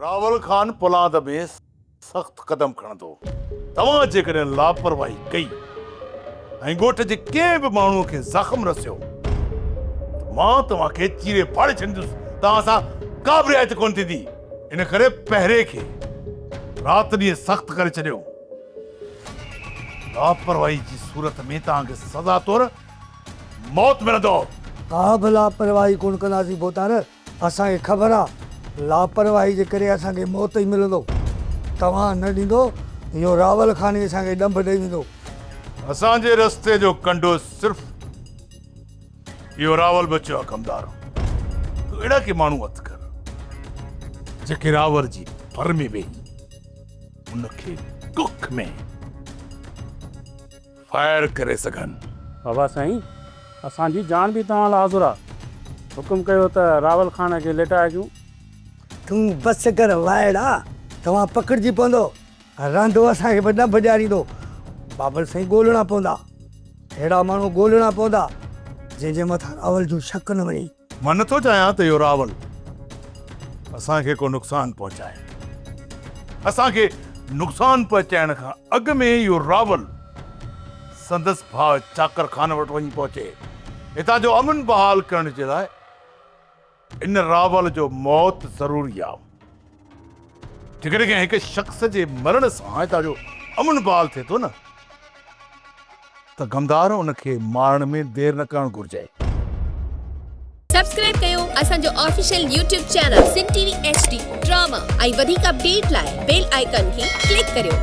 راول خان پولاد ۾ سخت قدم کڻندو. توهان جيڪڏهن لاپرواهي ڪئي ۽ ڳوٺ جي ڪنهن به ماڻهوء کي زخم رسيو ته مان توهان کي چيري ڦاڙي ڇڏيندس. توهان سان ڪابه رعايت ڪونه ٿيندي. ان ڪري پهري کي رات ڏينهن سخت ڪري ڇڏيو. لاپرواهي جي صورت ۾ توهان کي سزا طور موت ملندو. ڪابه لاپرواهي ڪونه ڪنداسين ڀوتار. اسان کي خبر آ لاپرواهي جي ڪري اسان کي موت ئي ملندو توهان نه ڏيندو يو راول خان ئي اسان کي ڏنڀ ڏئي ويندو. اسان جي رستي جو ڪنڊو صرف يو راول بچيو آ ڪمدار تو اهڙا ڪي ماڻهو هٿ ڪر جيڪي راول جي ڀر ۾ ويهي ان کي ڪک ۾ فائر ڪري سگهن. بابا سائين اسان جي جان به توهان لاء حاضر آ. حڪم ڪيو ته راول خان کي ليٽائجون. تون بس ڪر وائڙا توهان پڪڙجي پوندو رانڌو اسان کي به نه بجاريندو. بابل سائين ڳولهڻا پوندا. اهڙا ماڻهو ڳولهڻا پوندا جنهن جي مٿان راول جو شڪ نه وڃي. مان نه ٿو چاهيان ته اهو راول اسان کي ڪو نقصان پهچائي. اسان کي نقصان پهچائڻ کان اڳ ۾ ئي اهو راول سندس ڀاء چاڪر خان وٽ وڃي پهچي هتان جو امن بحال ڪرڻ جي لاء ان راول جو موت ضروري آهي. جيڪڏهن ڪنهن هڪ شخص جي مرڻ سان هتان جو امن بحال ٿئي ٿو نه ته غمدار ان کي مارڻ ۾ دير نه ڪرڻ گهرجي. سبسڪرائب ڪيو اسان جو official YouTube channel Sindh T V H D drama ۽ وڌيڪ اپڊيٽ لاء بيل آئيڪان کي ڪلڪ ڪريو.